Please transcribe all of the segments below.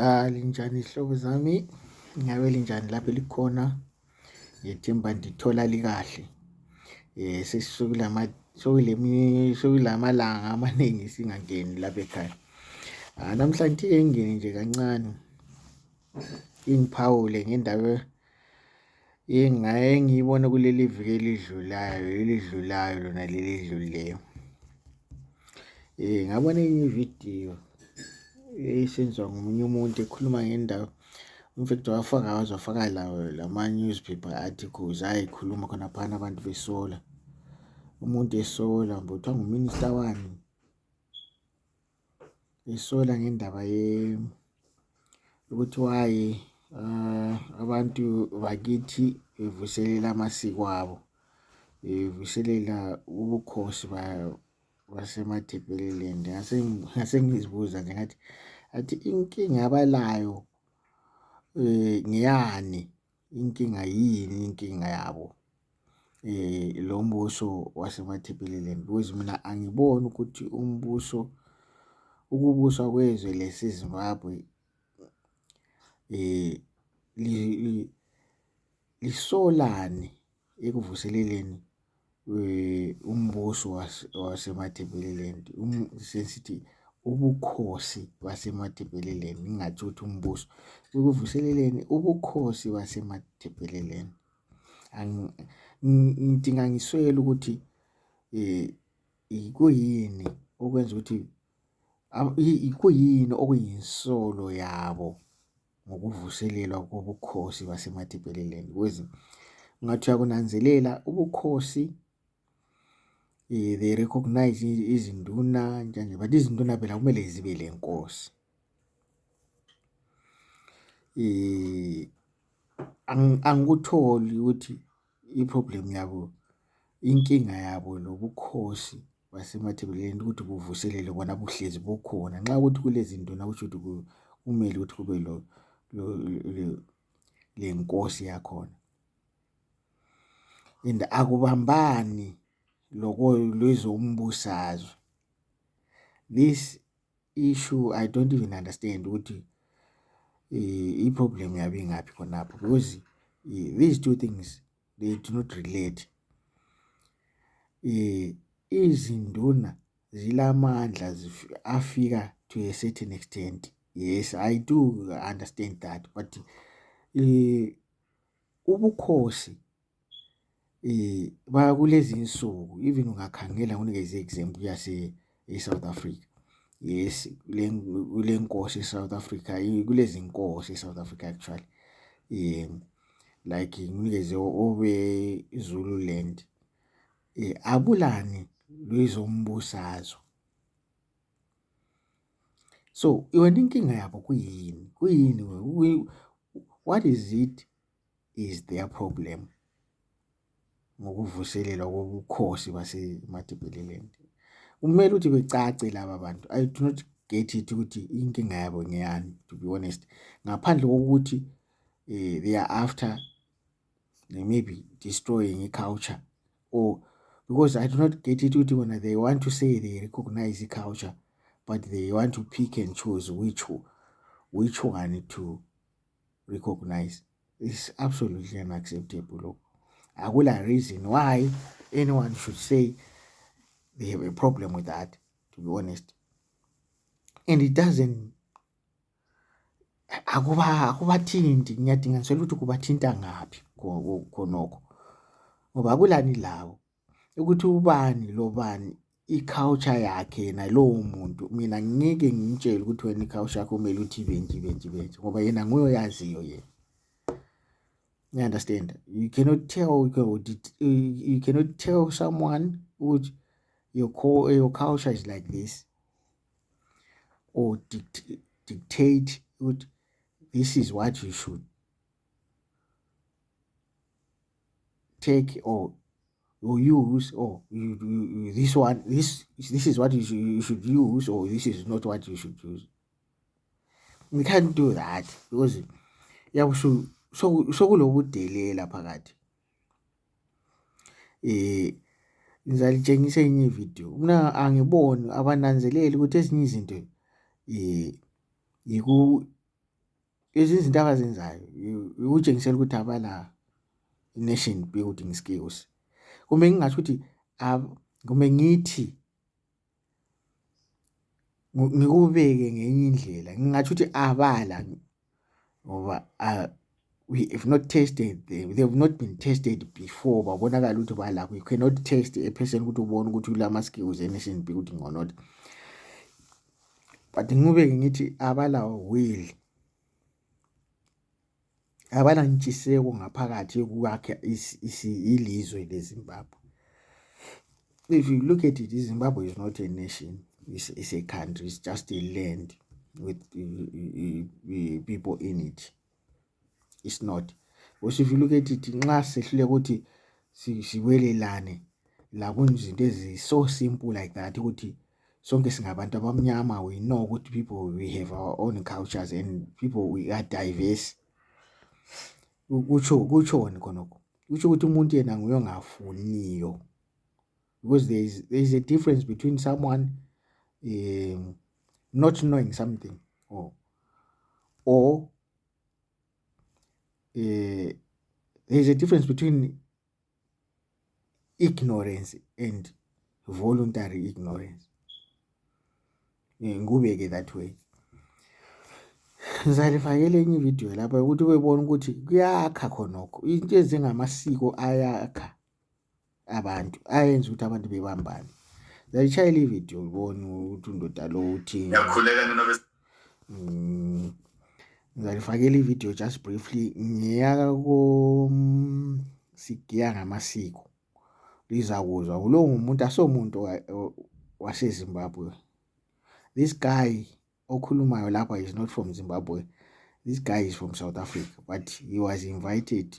Ah, linjani hlobo zami ngabe linjani lapho likhona ngethemba ndithola likahle eh sesikulama sokulemi sokulamalanga amaningi singangeni lapha ekhaya ah namhlanje engene nje kancane ingiphawule ngendawo Ingaye ngiyibone kuleli viki elidlulayo elidlulayo lona leli edlulileyo. Eh ngabona enye ividiyo esenziwa ngomunye umuntu ekhuluma ngendawo umfethu wafaka wazofaka lawo lama newspaper articles ayikhuluma khona phana abantu besola umuntu esola mbuthwa nguminister wani ngisola ngendaba ye ukuthi why uh, abantu bakithi bevuselela amasiko abo bevuselela ubukhosi basemathebheleland ngase ngizibuza nje ngathi athi inkinga abalayo um ngeyani Inkinga yini inkinga yabo lo mbuso wasemathebeleleni because mina angiboni ukuthi umbuso ukubuswa kwezwe lesiZimbabwe lisolani ekuvuseleleni. umbuso waseMatebeleland sesithi ubukhosi baseMatebeleland ngingathi ukuthi umbuso ekuvuseleleni ubukhosi baseMatebeleland. Ngidinga ngiswele ukuthi kuyini okwenza ukuthi kuyini okuyinsolo yabo. ngokuvuselelwa kobukhosi baseMatebeleland kwezi ngathi uyakunanzelela ubukhosi eh, they recognize izinduna njanje but izinduna phela kumele zibe le nkosi eh angikutholi ukuthi I-problem yabo inkinga yabo lobukhosi basemathebeleni ukuthi buvuselele bona buhlezi bukhona nxa ukuthi kulezinto nakusho ukuthi kumele ukuthi kube lo le nkosi yakhona and akubambani loko lwezombusazwe this issue i don't even understand ukuthi i-problem yabe ingaphi khonapho because these two things they do not relate izinduna zilamandla afika to a certain extent yes i do understand that but ubukhosi Kulezi nsuku even ungakhangela unikeze i-example yase e-South Africa. Yes, kule kule nkosi e-South Africa, kulezi nkosi e-South Africa actually like nginikeze obe-Zululand abulani lwezombusazwe. So, yona inkinga yabo kuyini, kuyini what is it? is their problem ngokuvuselelwa kobukhosi baseMatebeleland kumele ukuthi becace laba bantu i do not get it ukuthi inkinga yabo ngeyani to be honest ngaphandle kokuthi eh, they are after they may be destroying i-culture or because i do not get it ukuthi bona they want to say they recognize i-culture but they want to pick and choose which which one to recognize is absolutely unacceptable lokho akula reason why anyone should say they have a problem with that to be honest and it doesn't akuba akubathinti ngiyadinga ngisela ukuthi kubathinta ngaphi khonokho ngoba kulani lawo ukuthi ubani lo bani i-culture yakhe yena lowo muntu mina ngeke ngimtshele ukuthi wena i-culture yakho kumele uthi benje benje benje ngoba yena nguye oyaziyo yena you understand you cannot tell you cannot tell someone ukuthi your, co your culture is like this or dict dictate ukuthi this is what you should take or you use or you, you, you, this one this this is what you should, you should use or this is not what you should use we can't do that because yabo so so sokulokudelela phakathi eh ngizalitshengisa enye ivideo mina angiboni abananzeleli ukuthi ezinye izinto eh yiku Lezi zinto abazenzayo ukutshengisela ukuthi abala nation building skills kumbe ngingasho ukuthi kumbe ngithi ngikubeke ngenye indlela ngingathi ukuthi abala ngoba we have not tested them they have not been tested before babonakala ukuthi balakho you cannot test a person ukuthi ubone ukuthi ulama skills emission building or not but ngingubeke ngithi abalawo will abanantshiseko ngaphakathi yokwakha ilizwe lezimbabwe if you look at it izimbabwe is not a nation it's, it's a country it's just a land with uh, uh, uh, people in it it's not we should look at it nxa sehluleka ukuthi siwelelane lakunzinto ezi so simple like that ukuthi sonke singabantu abamnyama we know ukuthi people we have our own cultures and people we are diverse kutsho kutshoni khonokho kutsho ukuthi umuntu yena nguye ongafuniyo because there is, there is a difference between someone um, not knowing something or or uh, there is a difference between ignorance and voluntary ignorance eh, ngikubeke that way ngizalifakela enye ividiyo lapha ukuthi ubebona ukuthi kuyakha khonokho into ezingamasiko ayakha abantu ayenza ukuthi abantu bebambane zayishayela ividiyo ubone ukuthi undoda lo uthini ngiyakhuleka ninobe mm, ngizalifakela ividiyo just briefly ngiyaka ko mm, sigiya ngamasiko lizakuzwa ulo ngumuntu asomuntu wasezimbabwe this guy okhulumayo lapha is not from Zimbabwe this guy is from South Africa but he was invited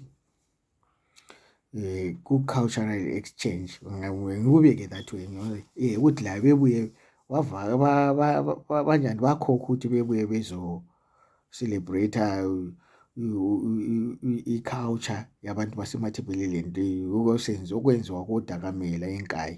eh ku cultural exchange ngikubeke that way ngoba eh ukuthi la bebuye wavaka banjani bakhokha ukuthi bebuye bezo celebrate i-culture yabantu basemathebeleleni okosenzi okwenziwa kodakamela enkayi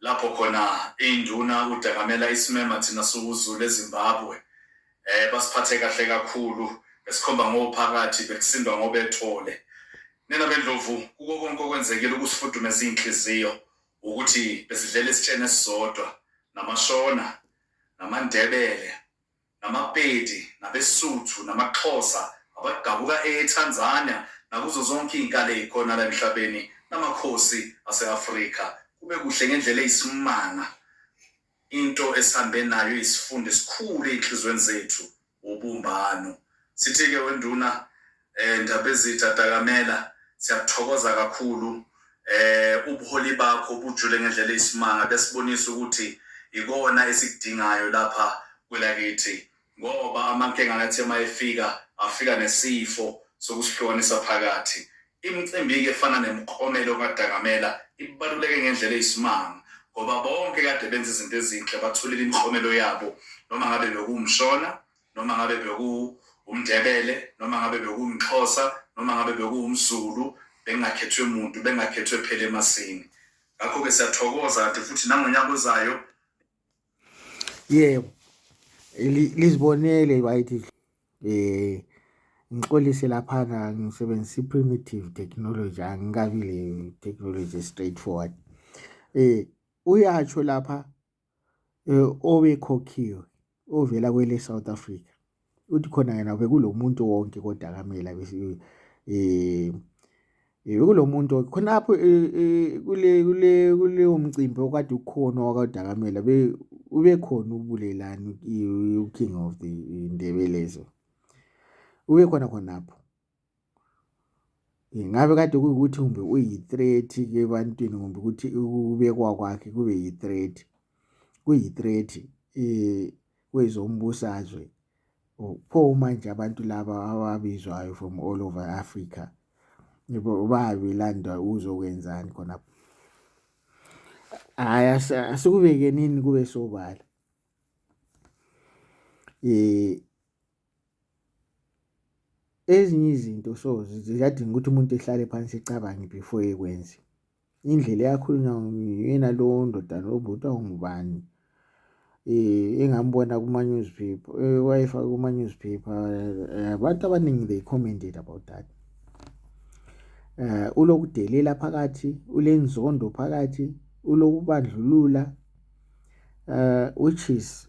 lapho khona iy'nduna uDangamela isimema thina siwuZulu eZimbabwe um basiphathe kahle kakhulu besikhomba ngophakathi bekusindwa ngobethole nina bendlovu kuko konke okwenzekile ukusifudumeza iy'nhliziyo ukuthi besidlela isitsheni esisodwa namashona namandebele namaPedi, nabeSuthu, namaXhosa, abadabuka eTanzania, nakuzo zonke izinkalo ezikhona la emhlabeni, namakhosi ase-Afrika. Kube kuhle ngendlela eyisimanga. Into esihambe nayo iyisifundo esikhulu ezinhliziyweni zethu, wubumbano. Sithi-ke weNduna, Eh Ndabezitha Takamela siyakuthokoza kakhulu eh ubuholi bakho bujule ngendlela eyisimanga besibonisa ukuthi ikona esikudingayo lapha kwelakithi ngoba amankenga ngathi uma efika afika nesifo sokusihlukanisa phakathi imicimbi-ke efana nemklomelo kadakamela ibaluleke ngendlela eyisimanga ngoba bonke kade benza izinto ezinhle batholile imiklomelo yabo noma ngabe bekuwumshona noma ngabe bekuwumndebele noma ngabe bekuwumxhosa noma ngabe bekuwumzulu bengakhethwe muntu bengakhethwe phela emasini ngakho-ke siyathokoza kanti futhi nangonyaka ozayo yebo lizibonele right eh ngixolise laphana ngisebenzisa i-primitive technology angikabi le technology straightforward eh uyatsho lapha Obekhokhiwe ovela kweleSouth Africa uthi khona yena bekulo muntu wonke kodakamela bekulo muntu khonapho kule kule kuleyo mcimbi okade ukhona wakaDakamela ubekhona uBulelani uKing of the Ndebelezo ubekhona khonapho. Ingabe kade kuyukuthi kumbe uyi-threat ke ebantwini kumbe ukuthi ukubekwa kwakhe kube yi-threat kuyi-threat um kwezombusazwe pho manje abantu laba ababizwayo from all over africa bayabe belanda ukuzokwenzani khonapho hhayi asikubekenini kube sobala um Ezinye izinto so ziyadinga ukuthi umuntu ehlale phansi ecabange before ekwenze. Indlela eyakhulunywa nguyena lo ndoda lo bhuti awungubani eh, engambona kuma-newspaper eh, wayefaka kuma-newspaper eh, abantu abaningi they commented about that eh ulokudelela phakathi ulenzondo phakathi ulokubandlulula eh which is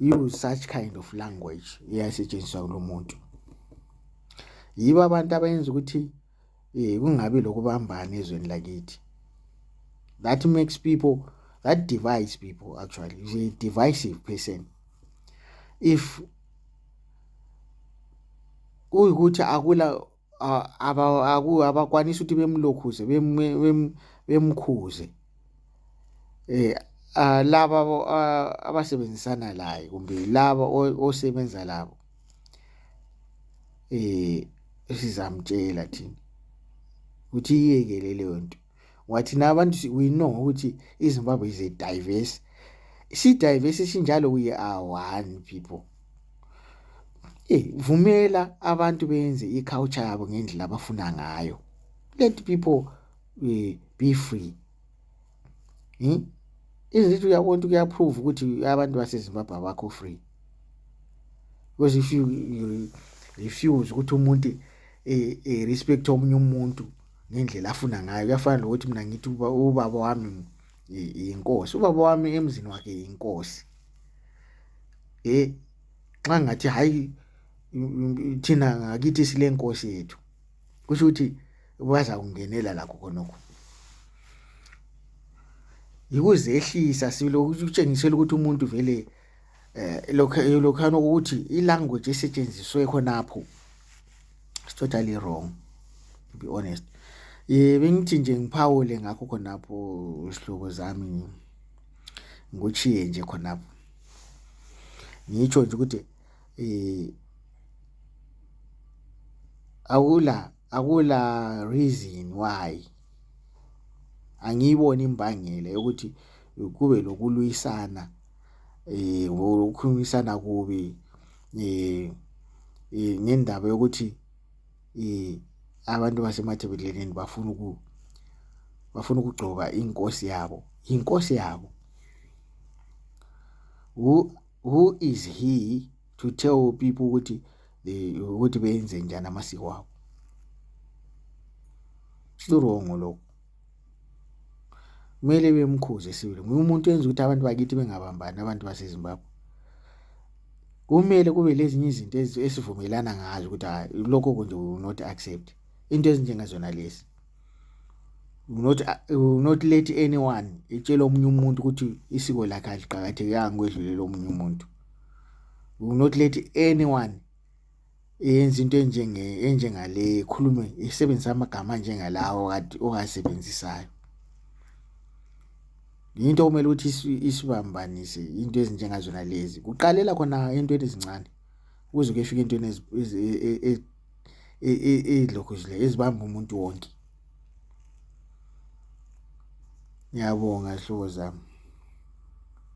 use such kind of language eyayisetshenziswa kulo muntu yibo abantu abayenza ukuthi eh kungabi lokubambana ezweni lakithi that makes people that divides people actually is a divisive person if kuyikuthi akula abakwanisa ukuthi bemlokhuze bemkhuze eh laba abasebenzisana laye kumbe laba osebenza labo eh sizamtshela thina ukuthi iyekele leyo nto. ngoba thina abantu we know ukuthi izimbabwe is a diverse si-diverse sinjalo we are one people e vumela abantu benze i-culture yabo ngendlela abafuna ngayo let people uh, be free hmm? izithi uyabona ukuthi kuyaprove ukuthi abantu basezimbabwe abakho free because if you, you refuse ukuthi umuntu e, e respect omunye umuntu ngendlela afuna ngayo kuyafana nokuthi mina ngithi uba ubaba wami inkosi ubaba wami emzini wakhe inkosi eh nxa ngathi hayi thina ngakithi sile nkosi yethu kusho ukuthi baza kungenela lakho khonokho yikuzehlisa silo ukutshengisela ukuthi umuntu vele eh lokho eh, lokhana ukuthi ilanguage esetshenziswe khonapho is totally wrong to be honest eh bengithi nje ngiphawule ngakho khonapho isihlobo zami ngochiye nje khonapho ngitsho nje ukuthi eh akula akula reason why angiyiboni imbangela yokuthi kube lokulwisana eh ngokukhulumisana kubi eh ngendaba yokuthi eh abantu basemathebeleni bafuna uku bafuna ukugcoba inkosi yabo inkosi yabo who who is he to tell people ukuthi ukuthi benze njani amasiko wabo sirongo lokho kumele bemkhuze sibili nguye umuntu enza ukuthi abantu bakithi bengabambani abantu basezimbabwe kumele kube lezinye izinto esivumelana ngazo ukuthi hayi lokho kunje will not accept into ezinjengazona lezi will not, will not let anyone itshele omunye umuntu ukuthi isiko lakhe aliqakathekanga kwedlulele omunye umuntu will not let anyone eyenza into enjenge enjengale ikhulume isebenzisa amagama njengalawo kade ongasebenzisayo into okumele ukuthi isibambanise into ezinjengazona lezi kuqalela khona entweni ezincane kuze kuyefika entweni ezilokhu zile ezibamba umuntu wonke ngiyabonga hlobo zami